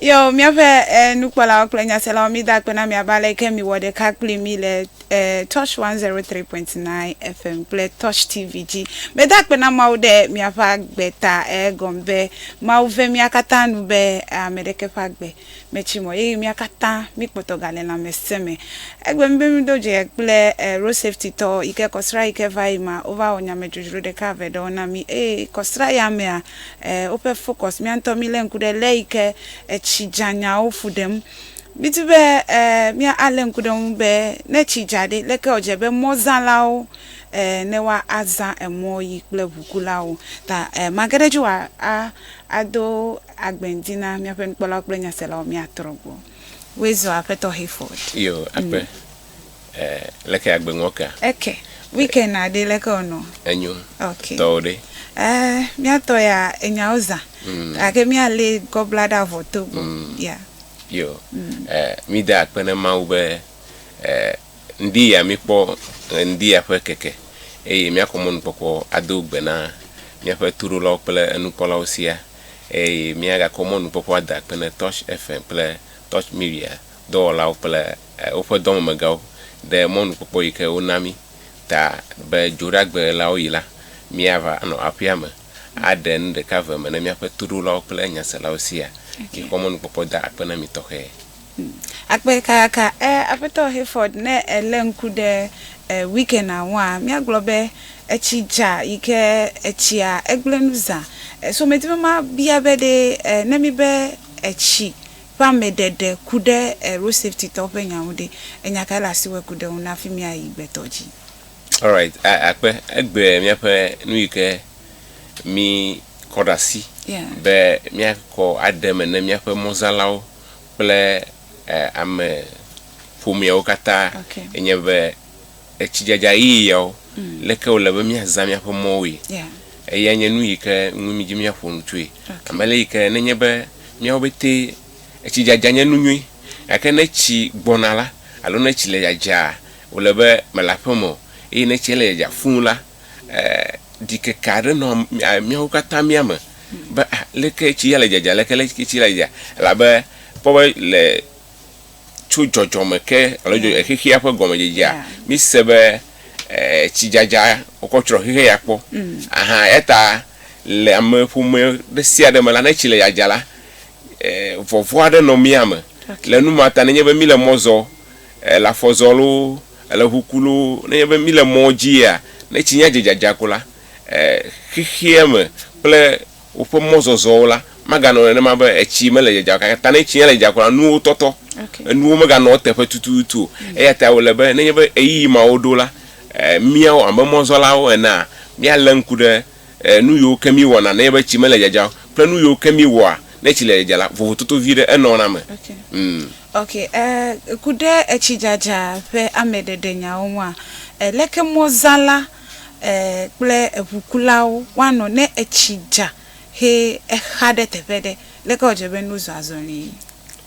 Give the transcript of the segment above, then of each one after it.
Yo, míaƒe eh, nukpɔlawo kple nyaselawo mída akpe na miabe aleke miwɔ ɖeka kpli mí le eh, Touch 103.9 FM kple Touch TV dzi. Meda akpe na Mawu ɖe miaƒe agbe ta egɔme be Mawu ve mía katã nu be ame ɖeke ƒe agbe metsi mɔ eye mía katã míkpɔtɔ gale lãmesẽ me. Egbe mí be mído dze kple Road Safety tɔ yi ke kɔsra yi ke va yi mea, wova wɔ nyamedzodzro ɖeka eve ɖewo na mí eye kɔsra ya mea, woƒe focus, mía ŋutɔ mílé ŋku ɖe lé yi ke etsi dzanyawo ƒu ɖem. Mídi be mía alé ŋku ɖe eŋu be ne tsi dza ɖe, leke wòdze be mɔzãlawo ne woa azã emɔ yi kple ʋukulawo ta mage ɖe edzi wòa a Ado agbe ŋdi na míaƒe nukpɔlawo kple nyaselawo míatrɔ gbɔ. Woe zɔ Aƒetɔ Hayford. Iyo, akpe. E, leke agbe ŋɔ kea? Eke. Weekend na ɖe leke o nɔ? Enyo. Ok. Tɔwo ɖe? E, míatɔ ya enyawo zã. Mm. Gake míalé gɔbla ɖe avɔ to gbɔ. Mm. Ya. Iyo. Mm. E, míde akpe na Mawu be e, Ŋdi ya míkpɔ ɣeŋdi ya ƒe keke, eye míakɔ mɔnukpɔkpɔ ado gbe na míaƒe toɖolawo kple enukpɔlawo siaa, eye míagakɔ mɔnukpɔkpɔ ade akpe ne Touch FM kple Touch Media dɔwɔlawo kple woƒe dɔmemegãwo ɖe mɔnukpɔkpɔ yi ke wona mí ta be dzoɖagbe la woɣi la, míava anɔ aƒea me aɖe nu ɖeka ve me ne míaƒe toɖolawo kple nyaselawo siaa. Mikɔ mɔnukpɔkpɔ da akpe na mi tɔxɛ. Akpe kakaka e Aƒetɔ Hayford ne èlé ŋku ɖe e weekenda ŋua. Míagblɔ be etsi dza yi ke etsia egblẽ nu zã. So medi be mabia be ɖe e ne míbe etsi ƒe ameɖeɖe ku ɖe e road safety tɔwo ƒe nya ŋu ɖe, enya kae le asi wɔ ku ɖe eŋu ne hafi míayi gbetɔ dzi? Alright, a akpe egbe míaƒe nu yi ke mí kɔ ɖe asi Yeah. be míakɔ aɖe eme ne míaƒe mɔzãlawo. kple ame ƒomeawo katã enye be etsidzadza ɣi yawo, leke wòle be míazã míaƒe mɔwoe. Eyae nye nu yi ke ŋu mí dzi míaƒo nu tsoe. Ame le yi ke nenye be míawo pɛtɛ, etsidzadza nye nu nyui, gake ne etsi gbɔna la, alo ne etsi le dzadzaa, wòle be mele aƒeme o. Eye ne etsia le dzadzaa fũu la, ɖikeke aɖe nɔ míawo katã mía me be aleke tsi ya le dzadza aleke le tsi la dzadza elabe kpɔ be le tso dzɔdzɔme ke alo dzɔdzɔ xexea ƒe gɔmedzedzea mise be tsi dzadza wokɔ tsrɔ̃ xexe ya kpɔ mm. aha eta le ame ƒome ɖe sia ɖe me la ne tsi le dzadza la vɔvɔ aɖe nɔ mía me le nu ma ta nenye be mi le mɔ zɔ le afɔ zɔ loo Ele ŋu ku loo, nenye be míle mɔ dzia, ne tsi nya dze dzadza ko la, e, xexea me kple woƒe mɔzɔzɔwo la, maganɔ nenema be etsi mele dzadza o. Gake ta ne tsi nya le dzadza ko la, nuwo tɔtɔ. Okay. Enuwo meganɔ eteƒe tututu o. Mm. Eya ta wòle be nenye be ɣeyiɣi mawo ɖo la, e, míawo abe mɔzɔlawo enea, míalé ŋku ɖe e, nu yiwo ke míewɔna nenye be tsi mele dzadzam o kple nu yiwo ke míewɔa ne tsi le dzadzam la, vovototo vi ɖe enɔna eme. Okay. Mm. Okay, e, ku ɖe etsidzadza ƒe ameɖeɖenyaawo ŋua, e, leke mɔzãla, e, kple eŋukulawo woanɔ ne etsi dza he exa ɖe teƒe ɖe? Leke wòdze be nu zɔa zɔlii?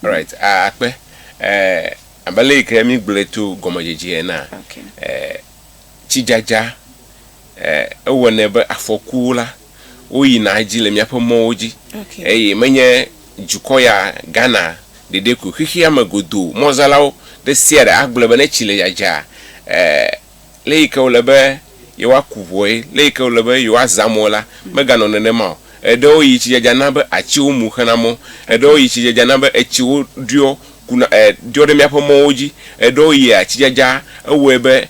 Alright, a, akpe, e, abe le yi ke míegblɔe to gɔmedzedzea enea, Okay. e, tsidzadza ewɔnɛ be afɔkuwo la woyina edzi le míaƒe mɔwo dzi eye menye dukɔ ya Ghana ɖeɖe koe. Xexea me godoo mɔzalawo ɖe sia ɖe agblɔe be ne tsi le dzadzaa, le yi ke wòle be yewoaku ŋuwoe, le yi ke wòle be yewoazã mɔe la, meganɔ nenema o. Eɖewo yi tsi dzadza na be atsiwo mu xena mɔ, eɖewo yi tsi dzadza na be etsiwo ɖɔ kuna ɖɔ ɖe míaƒe mɔwo dzi, eɖewo yia tsi dzadza ewɔe be.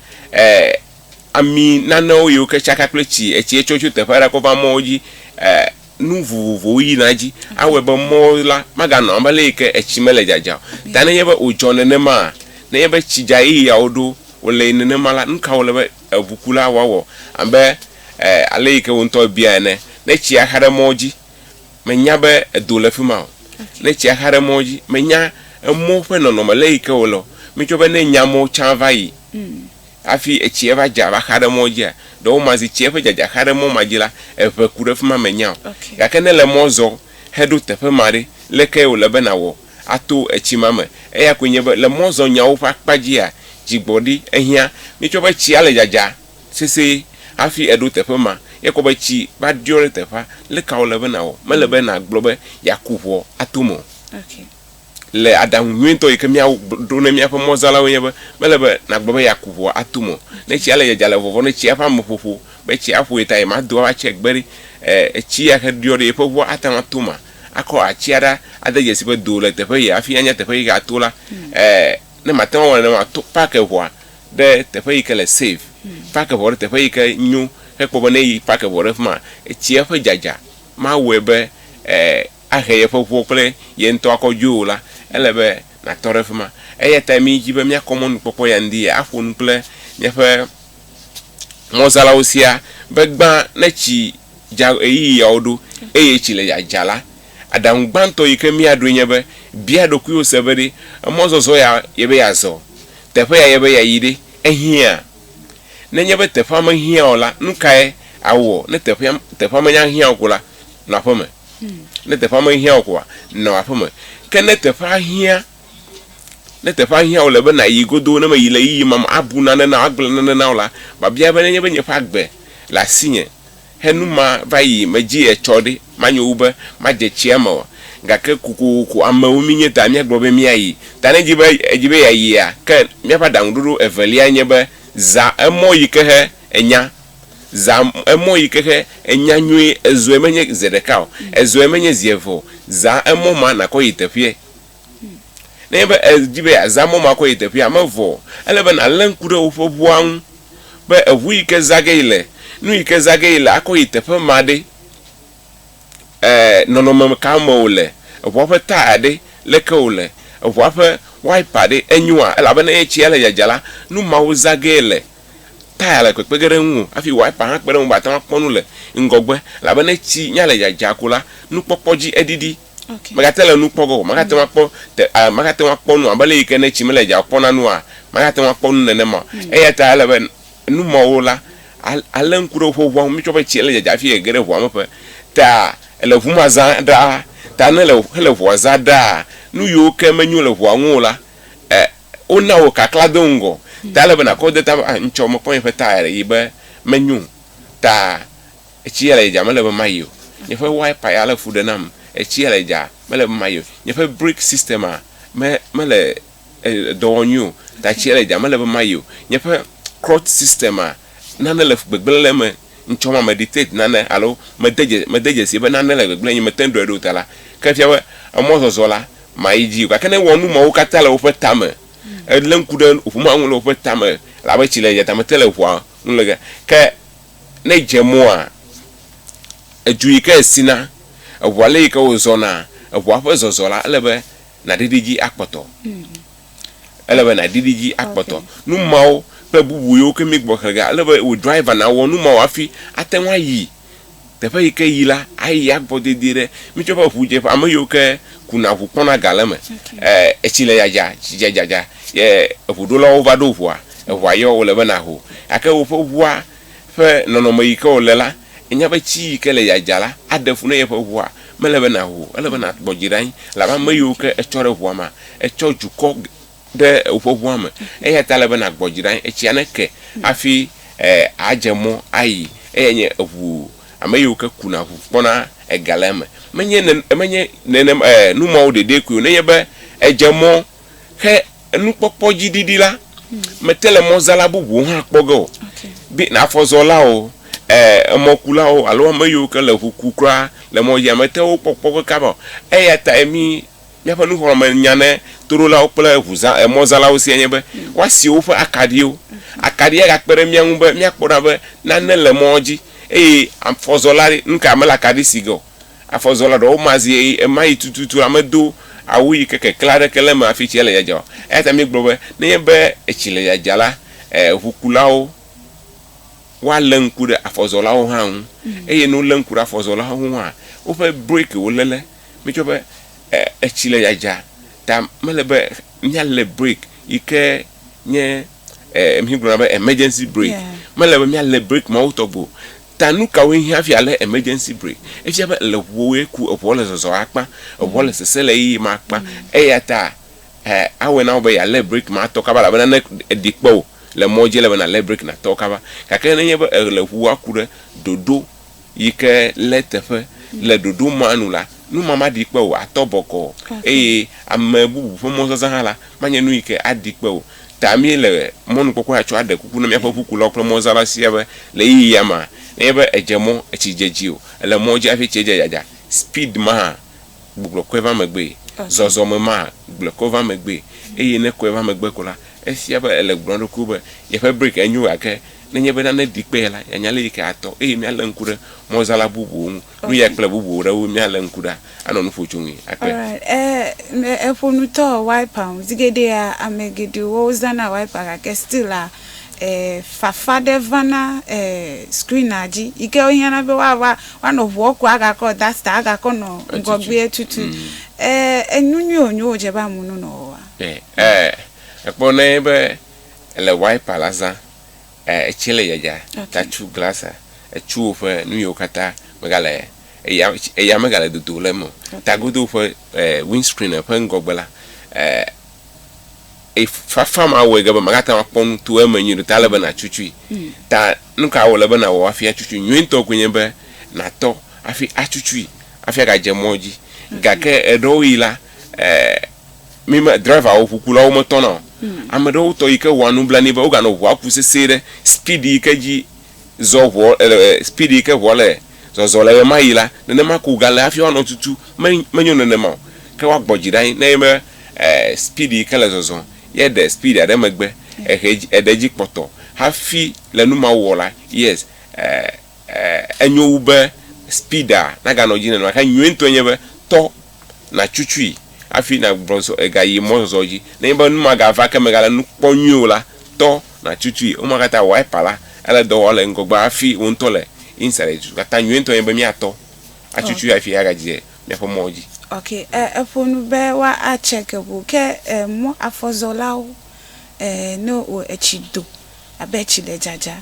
ami nanewo yi woke tsaka kple tsi etsi etsɔ tso teƒe aɖe kɔ va mɔwo dzi e nu vovovowo yina edzi awɔe be mɔwo la maganɔ abe ale yi ke etsi mele dzadzam o. Ta nenye be wòdzɔ nenema nenye be tsi dza eye yawo ɖo wòle yi nenema la, nu ka wòle be eŋukula wòawɔ abe e ale yi ke wò ŋutɔ èbia ene. Ne tsia xa ɖe mɔwo dzi mènya be edo le fi ma o. Ne tsia xa ɖe mɔwo dzi mènya emɔ ƒe nɔnɔme le yi ke wòle o. Mítsɔ be ne nya amewo tsã va yi Hafi etsia va dza va xa ɖe mɔ dzia, ɖewɔma zi tsia ƒe dzadza xa ɖe mɔ ma dzi la, eŋe ku ɖe fi ma mènya o. Gake ne èle mɔ zɔm heɖo teƒe ma ɖe, lé kae wòle be nàwɔ ato etsi ma me? Eya koe nye be, le mɔzɔnyawo ƒe akpa dzia, dzigbɔɖi. Ehiã míetsɔ be tsia le dzadza sesĩe hafi eɖo teƒe ma. Ekɔ be tsi va ɖiɔ ɖe teƒea. Lé ka wòle be nàwɔ? Mele be nàgblɔ be yeaku ŋɔ ato me o. le aɖaŋu nyuitɔ yi ke míaɖo ne míaƒe mɔzalawoe nye be, mele be nàgblɔ be yeaku ʋua atu mɔ. Ne tsia le dzadzam le vɔvɔm ɖe tsia ƒe ameƒoƒo be tsia aƒoe ta ye mado ava tsia gbe ɖi e, etsi ya ke ɖiɔ ɖe yeƒe ʋua ate ŋu ato ma, akɔ atsia ɖa ade dzesi be do le teƒe ye hafi anya teƒe yi ke ato la e, ne màte ŋu awɔ nenema o, to pake ʋua ɖe teƒe yi ke le safe, pake ʋua ɖe teƒe yi ke nyo hekpɔ be ne yi pake ʋua ɖe fi ma etsia ƒe dzadza mawɔe be e, ahe yeƒe ʋuwo kple ye ŋutɔ akɔ dzoe o la, ele be nàtɔ ɖe fima. Eya tae míedzi be míakɔ mɔnukpɔkpɔ ya ŋdi aƒo nu kple míaƒe mɔzãlawo siaa be gbã ne tsi dza ɣeyiɣiawo ɖo eye tsi le dzadza la, aɖaŋu gbãtɔ yi ke míaɖoe nye be, Bia ɖokuiwò se be ɖe emɔzɔzɔ ya ye be yeazɔ? Teƒe ya ye be yeayi ɖe ehiã? Nenye be teƒea mehiã o la, nu kae awɔ ne teƒea teƒea menya hiã o ko la, nɔ aƒeme. Ne teƒea mehiã o koa, nɔ aƒe me. Ke ne teƒea hiã, ne teƒea hiã wòle be nàyi godoo, ne mèyi le yiyim am, abu nane na wò, agblẽ nane na wò la, biabia be, Nenye be nye ƒe agbe le asinye henu mava yi me dzi etsɔ ɖe, manyo wu be madze tsia me oa? Gake kokoko amewo míenye ta míagblɔ be míayi. Ta ne èdi be, èdi be yeayia, ke míaƒe aɖaŋuɖoɖo evelia nye be, Zã emɔ yi ke he enya. Zã emɔ yi ke xe enya nyuie. Ezɔe menye ze ɖeka o. Ezɔe menye zi eve o. Zã emɔ ma nàkɔ yi teƒeɛ. Nenye be èdi be yeazã mɔ ma akɔ yi teƒeɛ hã mevɔ o. Ele be nàlé ŋku ɖe woƒe ŋua ŋu be eŋu yi ke zã ge yi le, nu yi ke zã ge yi le akɔ yi teƒe ma ɖe, e, nɔnɔme ka me wòle? Eŋua ƒe taya ɖe, leke wòle? Eŋua ƒe wiper ɖe, enyoa? Elabe ne etsia le dzadza la, nu mawo zã ge yele. taya le kpekpe ge ɖe eŋu o hafi wiper hã kpe ɖe eŋu be wòate ŋu akpɔ nu le ŋgɔgbe elabena etsi nya le dzadzaa ko la, nukpɔkpɔ dzi eɖiɖi. Okay. Megate le nu kpɔ ge o. Magate ŋu akpɔ te, a, magate ŋu akpɔ nu abe ale yi ke ne tsi mele dzadzaa o kpɔna nua, magate ŋu akpɔ nu nenema o. Mm. Eya ta ele be nu mawo la, a, alé ŋku ɖe woƒe ŋua ŋu. Mítsɔ be tsi ele dzadzaa hafi ege ɖe ŋua me ƒe ta ele ŋu ma zã ɖaa ta ne le, hele ŋua zã ɖaa, nu yiwo ke menyo le ŋua ŋu o la, e, Wona wò kakla do ŋgɔ. Ta ele be nakɔ de ta be, ah, ŋtsɔ mekpɔ nye ƒe taya le yi be menyo o. Ta etsi ya le dza mele be mayi o. Nye ƒe wiper ya le fu ɖe nam. Etsi ya le dza mele be mayi o. Nye ƒe brake system a me mele dɔ wɔm nyuie o. Ta etsi ya le dza mele be mayi o. Nye ƒe clutch system a nane le gbegblẽ le eme. ŋtsɔ ma meditate nane alo mede dze mede dzesie be nane le gbegblẽ nye mete ŋu ɖɔe ɖe o ta la, ke efia be emɔzɔzɔ la, mayi dzi o. Gake ne ewɔ nu mawo katã le woƒe tame, elé ŋku ɖe ŋu ma ŋu le woƒe tame abe tsi le dzatame te le ŋua ŋu le ge, ke ne edze mɔa, edu yi ke esina, eŋua le yi ke wozɔna, eŋua ƒe zɔzɔ la, ele be naɖiɖi edzi akpɔtɔ. Ele be nàɖiɖi edzi akpɔtɔ. Nu mawo kple bubu yiwo ke míegbugbɔ xlẽ ge, ale be wò driver nawɔ nu mawo hafi ate ŋu ayi teƒe yi ke yi la, ayi agbɔ dedie ɖe. Mitsɔe be ŋudzeƒe, ame yiwo ke kuna ŋu kpɔna ga le eme. Etsi le dzadza, tsi dzadzadza ye eŋuɖolawo va ɖo ŋua, eŋua yɔ, wòle be nàho. Gake woƒe ŋua. ƒe nɔnɔme yi ke wòle la, ènya be tsi yi ke le ya dza la aɖe fu ne yeƒe ʋua mele be nàho o. Ele be nàkpɔ dzi ɖe anyi elabe ame yiwo ke etsɔ ɖe ʋua mea, etsɔ dukɔ ɖe woƒe ʋua me. Eya ta ele be nàgbɔ dzi ɖe anyi etsia neke hafi àdze mɔ ayi. Eyae nye eŋu, ame yiwo ke kuna ŋu kpɔna ega le eme. Menye nene, menye nene, nu mawo ɖeɖee koe o, nenye be èdze mɔ. Ke enukpɔkpɔ dzi ɖiɖi la, mete le mɔzala bubuwo hã kpɔ ge o, be afɔzɔlawo, e, emɔkulawo alo ame yiwo ke le ŋu ku kura le mɔ dzia, mete wo kpɔ kpɔ ge kaba o. Eya tae mí, míaƒe nuxlɔ̃ame nya ne toɖolawo kple ŋuzã, e, mɔzalawo sia nye be, woasi woƒe akaɖiwo. Akaɖia gakpe ɖe mía ŋu be míakpɔ ɖa be nane le mɔa dzi eye afɔzɔla ɖe, nuka mele akaɖi si ge o. Afɔzɔla ɖewo ma zi eye ema yi tututu la medo awu yi ke keklẽ aɖeke le eme hafi tsia le dzadza o. Eya ta míegblɔ be nenye be etsi le dzadza la, ʋukulawo woalé ŋku ɖe afɔzɔlawo hã ŋu eye ne wolé ŋku ɖe afɔzɔlawo ŋu hã, woƒe brekiwo léle. Míetsɔ be etsi le dzadza ta mele be míalé breki yi ke nye, migblɔna be emergency breki, mele be míalé breki mawo tɔgbi o. Ta nu kawoe hiã hafi alé emergency break? Efia be le ŋuwòwoe ku, eŋuɔ le zɔzɔ akpa, eŋuɔ le sese le yiyim akpa. Eyata eh, awɔe na wò be yealé break ma atɔ kaba elabena ne eɖi kpe wò le mɔdzi ele be nàlé break nàtɔ kaba. Gake nenye be èle ŋua ku ɖe ɖoɖo yike lé teƒe le ɖoɖo ma nu la, nu ma maɖi kpe wò o, àtɔ bɔkɔɔ eye ame bubu ƒe mɔzazã hã la, manye nu yike aɖi kpe wò o. Ta míele mɔnukpɔkpɔ ya tsɔ aɖe kuku na míaƒe ŋukulawo kple mɔzãla sia be le ɣeyiɣia mea, nenye be èdze mɔ, etsi dze dzi o, èle mɔ dzi hafi etsia dze dzadza, speed maa, gbugbɔ kɔe va megbee, zɔzɔme maa, gblɔe kɔ va megbee, eye ne kɔe va megbe ko la, efia be èle gblɔm na ɖokuiwò be yeƒe break enyo gake nenye be nane ɖi kpe ye la, yeanya lé yi ke atɔ eye míalé ŋku ɖe mɔzãla bubuwo ŋu, nu yae kple bubu ɖewo míalé ŋku ɖa. anɔ nu ƒo tso ŋui akpe. Alright, eh, eh, eƒo nu tɔ wiper ŋu. Zi geɖea, ame geɖewo zana wiper gake still la, eh, fafa ɖe vana eh, screena dzi yi ke wohiãna be woa, woa, woanɔ ŋua ku agakɔ duster agakɔ nɔ Etutu. ŋgɔgbea tutu. Mm. Eh, enu nyui wònyo wòdze be amewo nonɔ wɔwɔa? Eh, eh, ekpɔ nɛ be ele wiper la zã Etsi le dzadza tatsu glasa, etsuwo ƒe nuyiwo katã megale eya eya megale dodo le eme o. Tagodo ƒe windscreen ƒe ŋgɔgbe la e fafa ma wɔe ge be magate ŋu akpɔ nu to eme nyuie ɖe o ta ele be natsu tsui. Ta nuka wòle be nawɔ hafi atsu tsui? Nyuie ŋutɔ koe nye be natɔ hafi atsu tsui hafi agadze mɔ dzi. Gake eɖewoɣi la. eh, mi me driverwo ʋukulawo metɔna o hmm. ame ɖewo tɔ yi ke wɔa nublanui be woganɔ ʋua ku sese ɖe speed yi ke dzi zɔ ʋua eh, speed yi ke ʋua le zɔzɔ le ɣema yi la nenema ko gale hafi woanɔ tutu menyo nenema o ke woagbɔ dzi ɖa ne be eh, speed yi ke le zɔzɔ ye ɖe speed aɖe megbe ehe eɖe dzi kpɔtɔ hafi le nu ma wɔ la yes eh, eh, enyo wu be speeda naganɔ dzi nenema ke nyuie ŋutɔ nye be tɔ nàtsutsui hafi nàgbugbɔ zɔ gayi mɔzɔzɔ dzi. Nenye be nu ma gava ke megale nu kpɔm nyuie o la, tɔ nàtsutsui. Woma katã wiper la ele dɔ wɔm le ŋgɔgbe hafi wò ŋutɔ le inside edu. Nu ka ta nyuietɔ nye be míatɔ atsutsui hafi agadzi ɖe míaƒe mɔ dzi? Ok, e, eƒo nu be wa a check ŋu. Ke e, mɔ afɔzɔlawo e, no wo etsi do abe tsi le dzadza.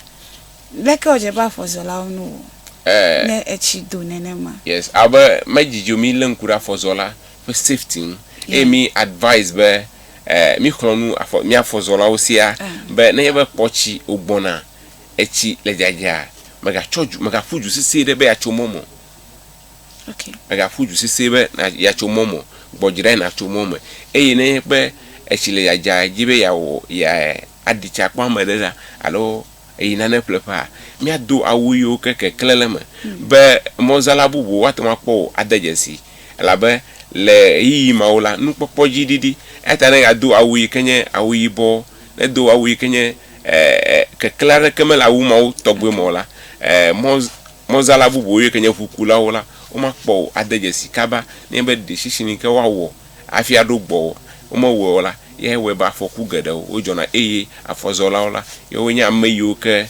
Leke wòdze be afɔzɔlawo nu wɔ Ɛɛ. ne etsi do nenema? Yes, abe medzi dzo mí lé ŋku ɖe afɔzɔla ƒe safety ŋu eye Yeah. mí advise be ɛɛ mí xlɔ̃ nu afɔ mía afɔzɔlawo sia Ah. be nenye be kpɔ tsi wògbɔna, etsi le dzadzaa, mègatsɔ dzo mègaƒu dzo sesĩe ɖe be yeatso mɔ me o. Okay. Mègaƒu dzo sesĩe be na yeatso mɔ me o. Gbɔ dzi ɖae nàtso mɔ me eye nenye be etsi le dzadzaa edzi be yeawɔ yeaɖi tsi akpɔ ame aɖe ɖa alo. Eyi nane ƒleƒea, míado awu yiwo ke keklẽ le eme be mɔzãla bubuwo ate ŋu akpɔ wò ade dzesii, elabe le ɣeyiɣi mawo la, nukpɔkpɔ dzi ɖiɖi. Eya ta ne yeado awu yi ke nye awu yibɔ, nedo awu yi ke nye e, e, keklẽ aɖeke mele awu mawo tɔgbe me o la, e, mɔ, mɔzãla bubuwo yi ke nye ʋukulawo la, womakpɔ wò ade dzesii kaba nenye be ɖe sisi ni ke woawɔ hafi aɖo gbɔwò. Womewɔe o la, eyae wɔe be afɔku geɖewo wodzɔna eye afɔzɔlawo la, yewoe nye ame yiwo ke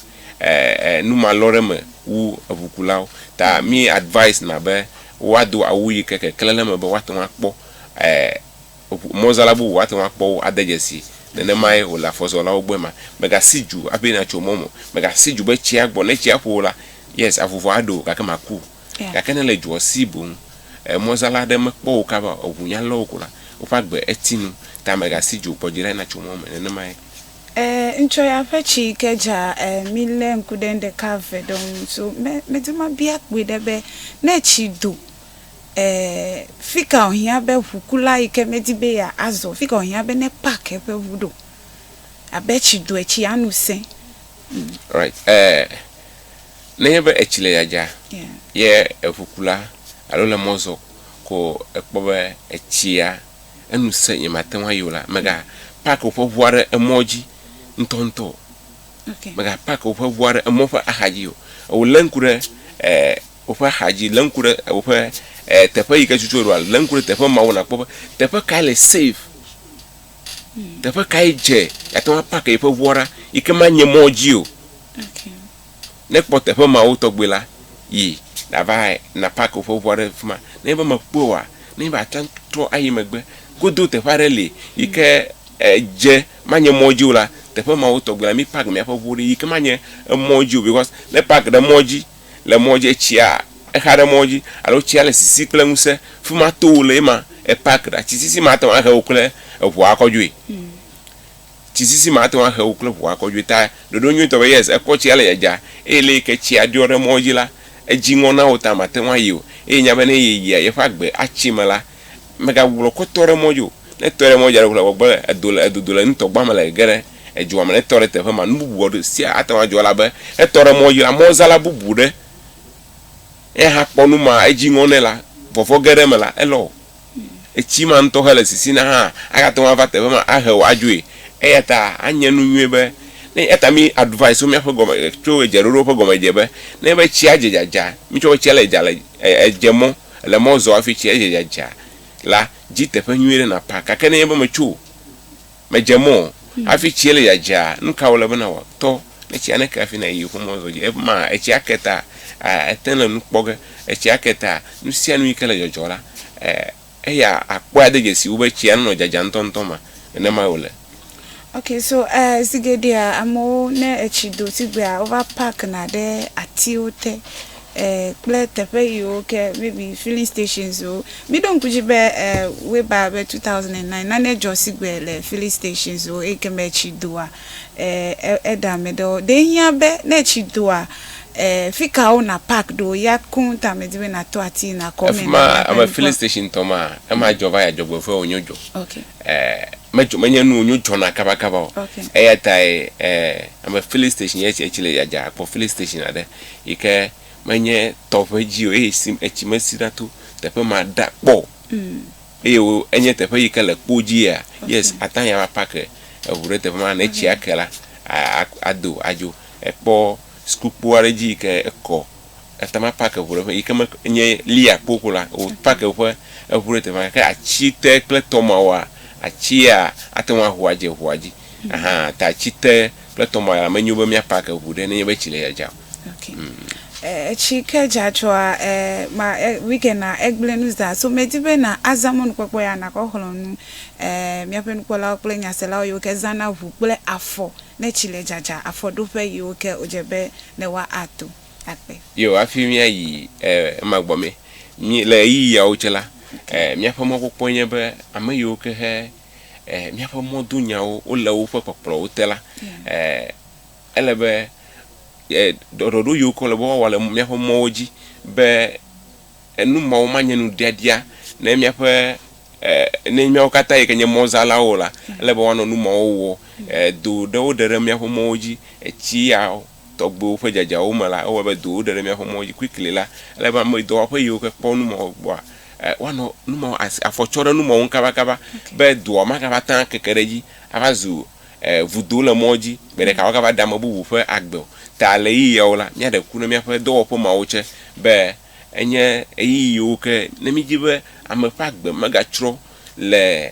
numalɔ̃ɖeme wu eŋukulawo. Ta mí advise na be woado awu yi ke keklẽ ɖe eme be woate ŋu akpɔ eŋu mɔzala bubu woate ŋu akpɔ wo ade dzesi. Nenemae wòle afɔzɔlawo gbɔ ema. Mègasi dzu hafi nàtso mɔ me o. Mègasi dzu be tsia gbɔ. Ne tsia ƒo wò la, yes, avuvu aɖe wò gake màku o. Gake ne le dzoa si boŋ mɔzala aɖe mekpɔ wò kaba o, eŋu nya lé wò ko la, woƒe agbe eti nu. Ta mègasi dzo kpɔ dzi ɖa natso mɔ me nenemae. Eeee ŋtsɔ ya ƒe tsi yi ke dza eeee mi le ŋku ɖe nu ɖeka eve ɖe ŋu so me me di ma bia kpɔe ɖe be ne tsi do eeee fika o hiã be ʋu kula yi ke me di be ya azɔ fika o hiã be ne park eƒe ʋu ɖo abe tsi doe tsi ya nu sẽ. Right. Eh, nenye be etsi le yadza ye eʋukula alo le mɔ zɔ ko ekpɔ be etsia enu se nye mate ŋu ayi o la, mega park woƒe ʋua ɖe emɔ dzi ŋutɔŋutɔ o. Okay. Mega park woƒe ʋua ɖe emɔ ƒe axa dzi o. Ewo le ŋku ɖe eh, woƒe axa dzi, le ŋku ɖe woƒe eh, teƒe yi ke tutu eɖoa, le ŋku ɖe teƒe mawo nakpɔ be teƒe kae le safe Teƒe kae dze ate ŋu apake yeƒe ŋua ɖa yi ke manye mɔ dzi o? Ne èkpɔ teƒe mawo tɔgbi la, yi nàva nàpake woƒe ŋua ɖe afi ma. Nenye be mèkpɔe oa, nenye be àte ŋu atrɔ ayi megbe godoo teƒe aɖe li yi ke dze manye mɔ dzi o la, teƒe mawo tɔgbi la, mípake míaƒe ŋuwo ɖi yi ke manye emɔ dzi o. Bikɔs ne èpake ɖe mɔ dzi, le mɔ dzi etsia exa ɖe mɔ dzi alo tsia le sisi kple ŋusẽ fima to wole ema epak ɖa tsi sisi ma te ŋu ahe wò kple eʋua akɔ dzoe tsi sisi ma te ŋu ahe wò kple eʋua akɔ dzoe ta ɖoɖo nyuitɔ be yes ekpɔ tsia le dzadza eye le yike tsia ɖɔ ɖe mɔ dzi la edzi ŋɔ na wò ta mate ŋu ayi o eye nya be ne yeyia yeƒe agbe atsi me la Mègagblɔ kɔtɔ ɖe mɔ dzi o, ne ètɔe ɖe mɔ dzi alo ŋu le gbɔgbɔ le edo le edodo le nutɔgba me le gege ɖe edzoa me ne etɔ ɖe teƒe ma, nu bubu wɔ ɖe sia ate ŋu adzɔ elabe ne etɔ ɖe mɔ dzi la, mɔzala bubu ɖe ya hã kpɔ nu ma edzi ŋɔ nɛ la, vɔvɔ̃ ge ɖe eme la, elɔ wò. Etsi ma ŋutɔ hele sisina hã agate ŋu ava teƒe ma ahe wò adzoe. Eya ta anye nu nyuie be ne eya ta mi advice wo míaƒe gɔme tso edzeɖoɖo ƒe gɔmedze be ne be tsia dze dzadza mitsɔ be tsia le dza le edze mɔ. Èle mɔ zɔ hafi tsi edze dzadza la, di teƒe nyui ɖe nàpa. Gake nenye be mètso o, mèdze mɔ o, hafi tsi ele dzadzaa, nu ka wòle be nàwɔ? Tɔ ɖe tsia neke hafi nàyi yeƒe mɔ zɔ dzi. Ekema etsia ake ta, àte le nu kpɔ ge. Etsia ke ta, nu sia nu yi ke le dzɔdzɔ la, eya akpɔe ade dzesi wo be tsia nenɔ dzadzam ŋutɔŋutɔ ma. Nenemae wòle. Ok so eh, zi geɖea amewo ne etsi do tigbea wova pakna ɖe atiwo te eh, kple teƒe yiwo ke maybe filling stations wo miɖo ŋku dzi be eh, weba be 2009 nane dzɔ sigbe le filling stations wo eyi ke me etsi doa eh, e- eɖe ame ɖewo ɖe hiã be ne etsi doa eh, fi ka wo na park ɖo ya koŋ ta medi be nato ati nakɔ me efima nava ame kpɔ. filling station tɔ ma ema dzɔ va yi adzɔgbeƒe wònyo dzɔ Ok. e, medzɔ, menye nu wònyo dzɔna kabakaba o. Okay. Eya tae e, ame filling station yɛ etsi le dzadza akpɔ filling station aɖe yi ke menye tɔʋe dzi o eye si etsi mesi ɖa to teƒe ma ɖa kpɔ o. Mm. Eye wo, enye teƒe yi ke le kpo dzi yɛa, okay. yes, ate ŋu ava park e, eŋu ɖe teƒe ma ne etsia ke la, a, a, ado adzo. Ekpɔ sukukpo aɖe dzi yi ke ekɔ Eta ma park eʋu ɖe ƒe yike me nye Leah kpo ƒo la o park eƒe eʋu ɖe teƒe ke atsi te kple tɔ ma woa atsi ya ate ŋu aho adze eʋua dzi ahan ta atsi te kple tɔ ma ya me nyo be mía park eʋu ɖe nenye be tsi le dzadza o. Okay. etsi ke dza tsɔa e ma e weekend na egblẽ nu zã so me di be na azã mɔnu kpɔkpɔ ya na kɔ xlɔ nu e mia ƒe nukpɔlawo kple nyaselawo yiwo ke zã na ʋu kple afɔ ne tsi le dzadza afɔ ɖoƒe yiwo ke o dze be ne woa a to akpe. Yo, hafi mía yi e, ema gbɔ mɛ. Mí, le ɣeyiɣi yawo tsɛ la, e, míaƒe mɔkpɔkpɔe nye be ame yiwo ke he e, míaƒe mɔdonyawo wole woƒe kpɔkplɔwo te la, e, ele be e, ɖɔɖɔɖo yiwo ke wole be woawɔ le míaƒe mɔwo dzi be Enu mawo manye nu ɖiaɖia ne míaƒe, e, ne míawo katã yi ke nye mɔzãlawo o la, ele be woanɔ nu mawo wɔ. E, do ɖewo ɖe ɖe míaƒe mɔwo dzi. Etsi ya tɔgbiwo ƒe dzadzawo me la, ewɔe be dowo ɖe ɖe míaƒe mɔwo dzi kplikli la, ele be ame dɔwɔƒe yiwo ke kpɔ nu mawo gbɔa, e, woanɔ nu mawo asi, afɔ tsɔ ɖe nu mawo ŋu kabakaba be doa magava te akeke ɖe edzi ava zu, e, vudo le mɔ dzi gbe ɖeka woagava ɖe ame bubu ƒe agbe o. Ta ɣeyiɣiawo la, míaɖe ku ne míaƒe dɔwɔƒe mawo tse be Enye ɣeyiɣiwo ke ne mídi be ame ƒe agbe megatrɔ le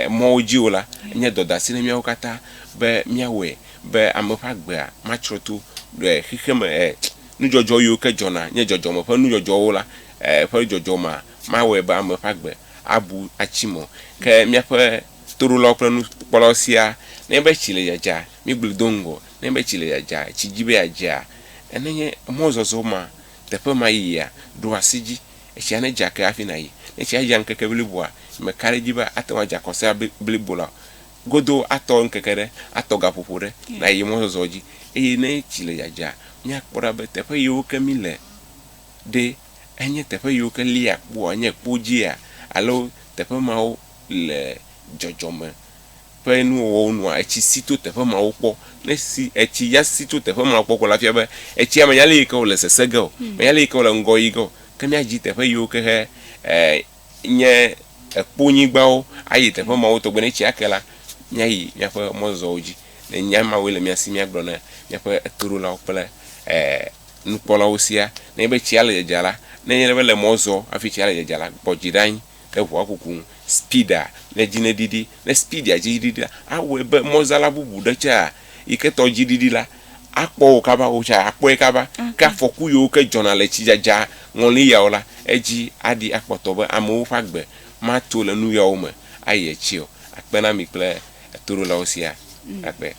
mɔwo dzi o la, enye dɔdeasi na míawo katã be míawɔe be ame ƒe agbea matrɔ to xexeme nudzɔdzɔ yiwo ke dzɔna nye dzɔdzɔme ƒe nudzɔdzɔwo la ƒe dzɔdzɔ mea mawɔe be ame ƒe agbe abu atsi mɔ. Ke míaƒe toɖolawo kple nukpɔlawo sia nenye be tsi le dzadza, míegblɔe do ŋgɔ, nenye be tsi le dzadza, tsi di be yeadzea, nenye mɔzɔzɔ ma teƒe ma yiyia, ɖo asi edzi. Etsia nedze ake hafi nàyi. Ne etsia dza ŋkeke bliboa, mèka ɖe edzi be ate ŋu adze akɔsea blibo la o. Godoo atɔ ŋkeke ɖe, atɔ gaƒoƒo ɖe nàyi mɔzɔzɔ dzi. Eye ne etsi le dzadzaa, míakpɔ ɖa be teƒe yiwo ke míle ɖe, enye teƒe yiwo ke lia kpoa, enye kpo dzia, alo teƒe mawo le dzɔdzɔme. ƒe nuwɔwɔwo nɔa etsi si to teƒe mawo kpɔ. Ne si, etsi ya si to teƒe mawo kpɔ ko la fia be etsia menya ale yi ke wòle sese ge o, menya ale yi ke wòle ŋgɔ yi ge o, ke míadzi teƒe yiwo ke he nye ekponyigbawo ayi teƒe mawo tɔgbe. Ne etsia ke la, míayi míaƒe mɔzɔzɔwo dzi. Ne nya mawoe le mía si, míagblɔ na míaƒe etoɖolawo kple nukpɔlawo siaa. Nenye be tsia le dzadza la, nenye be le mɔ zɔ hafi tsia le dzadza la, kpɔ dzi ɖa anyi. Ke ʋɔa kuku ŋu speedaa, ne edzi ne ɖiɖi, ne speedia dzi ɖiɖi la, awɔe be mɔzala bubu ɖe tsɛ yi ke tɔ dzi ɖiɖi la, akpɔ wo kaba, wo tsɛ akpɔe kaba. Ke afɔku yiwo ke dzɔna le tsidzadza ŋɔli yawo la, edzi aɖi akpɔtɔ be amewo ƒe agbe mato le nu yawo me ayi edzi o. Akpe na mi kple. etoɖolawo siaa akpe.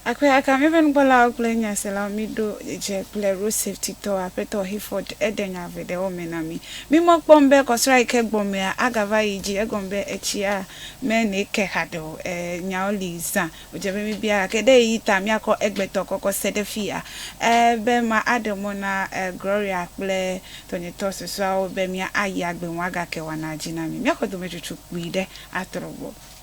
Akpe aka míaƒe nukpɔlawo kple nyaselawo míɖo dze kple Road Safety tɔ, Aƒetɔ Hayford? Eɖe nya veɖewo me na mí. Mímɔ kpɔm be kɔsra yi ke gbɔ mea, agava yi dzi, egɔme be etsia mene ke haɖe o. Ẽ, nyawo li zã wòdze be míbia, gake ɖe ɣeyiɣi ta míakɔ egbetɔ kɔkɔ se ɖe fiya ẽ be ma aɖe mɔ na ẽ Gloria kple tɔnyetɔ susɔeawo be mía ayi agbe ŋu agake woana dzi na mí. Míaxɔ dometsotso kpui ɖe atrɔ gbɔ.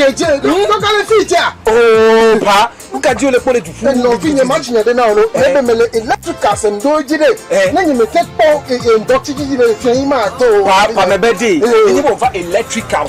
keje toka le fi ja o pa nuka di o le kpɔ le du fu nɔ fi nye ma tsinya de na o lo ebe me le electrical se ndo dzi de ne nye me te kpɔ eye ŋdɔ tsi dzi de fi yi ma to o pa pa me be de ne nye mo va electrical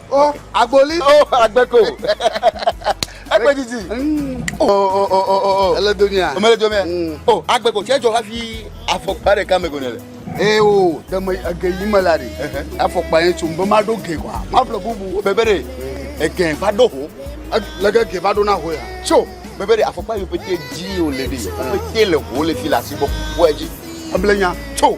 O agboli. O agbeko. Ekpe didi. Mm. O o o o o. Ele domia. O mele domia. Mm. O agbeko tse jɔ hafi afɔkpa ɖeka me gone le. Ee eh, o deme ege yi me la de. Afɔkpa yẹn tso nbẹ ma ɖo ge kɔ. Ma ƒle bubu o bebe de. Mm. Ege va ɖo ho. Lege ge va ɖo na ho ya. Tso bebe de afɔkpa yi o pete dzi o le de. O pete le ho le fi le asi gbɔ. Wɔ edzi. Eble nya. Tso.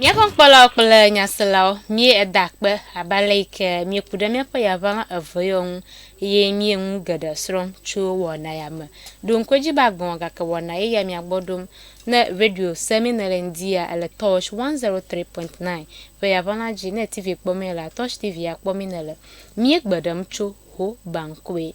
Míaƒe nukpɔlawo kple nyaselawo, míe eda akpe abe ale yi ke míeku ɖe míaƒe yaʋalã eve yewo ŋu eye míe nu geɖe srɔ̃m tso wɔna ya me. Ɖo ŋku edzi be agblɔ gake wɔna ye ya mía gbɔ ɖom. Ne radio se mi nele ŋdia ele Tosh 103.9 ƒe yaʋala dzi ne TV kpɔ mi ele a Tosh TV ya kpɔ mi nele. Mie gbe ɖem tso ho bankue